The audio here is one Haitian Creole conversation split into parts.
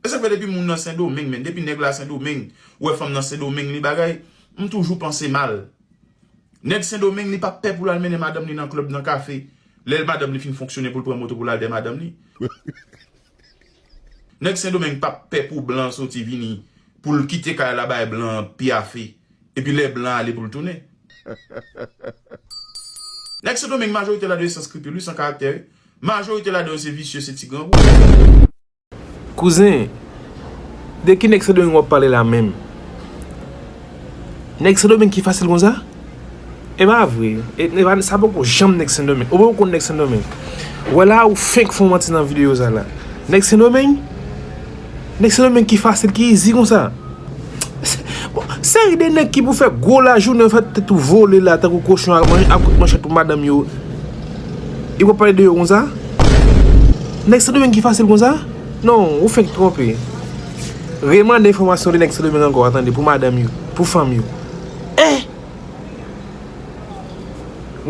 Esak fè depi moun nan sendomeng men depi nèg la sendomeng ou wè fanm nan sendomeng li bagay m toujou panse mal nèg sendomeng li pap pè poul al mennen madanm li nan club nan kafe lèl madanm li fin fonksyone poul pran moto poul al dè madanm li nèg sendomeng pap pè pou blan soti vini poul kite kay la bay blan an pyafe epi lè blan ale poul tounen nèg sendomeng majorite ladan yo san skripil wi san karaktè wi majorite ladan yo se visye se ti grangou. Kouzen, de ki nèg sendomeng wap pale la menm? Nèg sendomeng ki fasil konsa? E pa vre, sa poko janm nèg sendomeng, oubyen ou konn nèg sendomeng? Wè la ou fenk fon manti nan video sa la, nèg sendomeng? Nèg sendomeng ki fasil, ki izi konsa? Bon seri de nèg ki pou fè gwo lajounen yo fèt tèt ou vole la tankou kochon ap manje ap kout manchèt pou madanm yo e wap pale de yo konsa nèg sendomeng ki fasil konsa non ou fenk twonpe re mande enfòmasyon de nèg sendomeng ankò a tande pou madanm yo pou fanm yo eh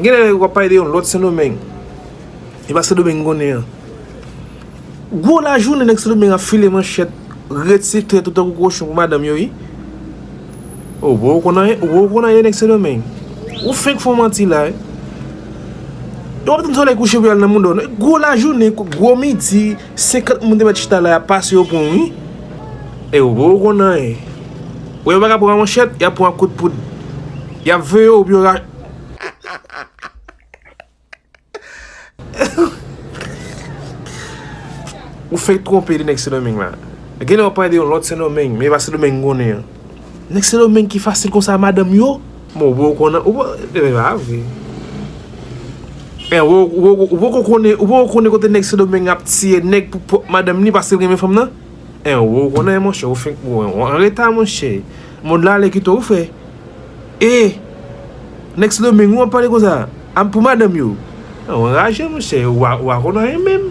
genlè wap pale de yon lòt sendomeng e pa sendomeng ou konnen an. Gwo lajounen nèg sendomeng ap file manchèt ret se trèt yo tankou kochon pou madanm yo wi oh bro ou konn anyen ou bro konn anyen nèg sendomeng ou fenk fon manti la wi e wap tann solèy kouche pou yal nan mouda w non gwo lajounen gwo midi 50 moun te mèt chita la yap pase yo pran wi e ou bro ou konn anyen ou yo paka pran a manchèt yap pran a kout poud yap veye w pou yo ra. Ou fenk twonpe de nèg sendomeng la. Gen lè wap pale de yon lòt sendomeng, men e pa sendomeng m konnen an. Nèg sendomeng ki fasil konsa a madanm yo? Bon ou poko konnen, ou poko konnen, ou poko konnen kote nèg sendomeng ap tiye nèg pou pwòp madanm li paske l renmen fanm nan? Ou poko konnen monchè, ou fenk, ou anreta monchè. Mond la ale kite w frè. Eeh nèg sendomeng ou ap pale konsa a pou madanm yo. Ou anraje monchè ou pa konn anyen menm.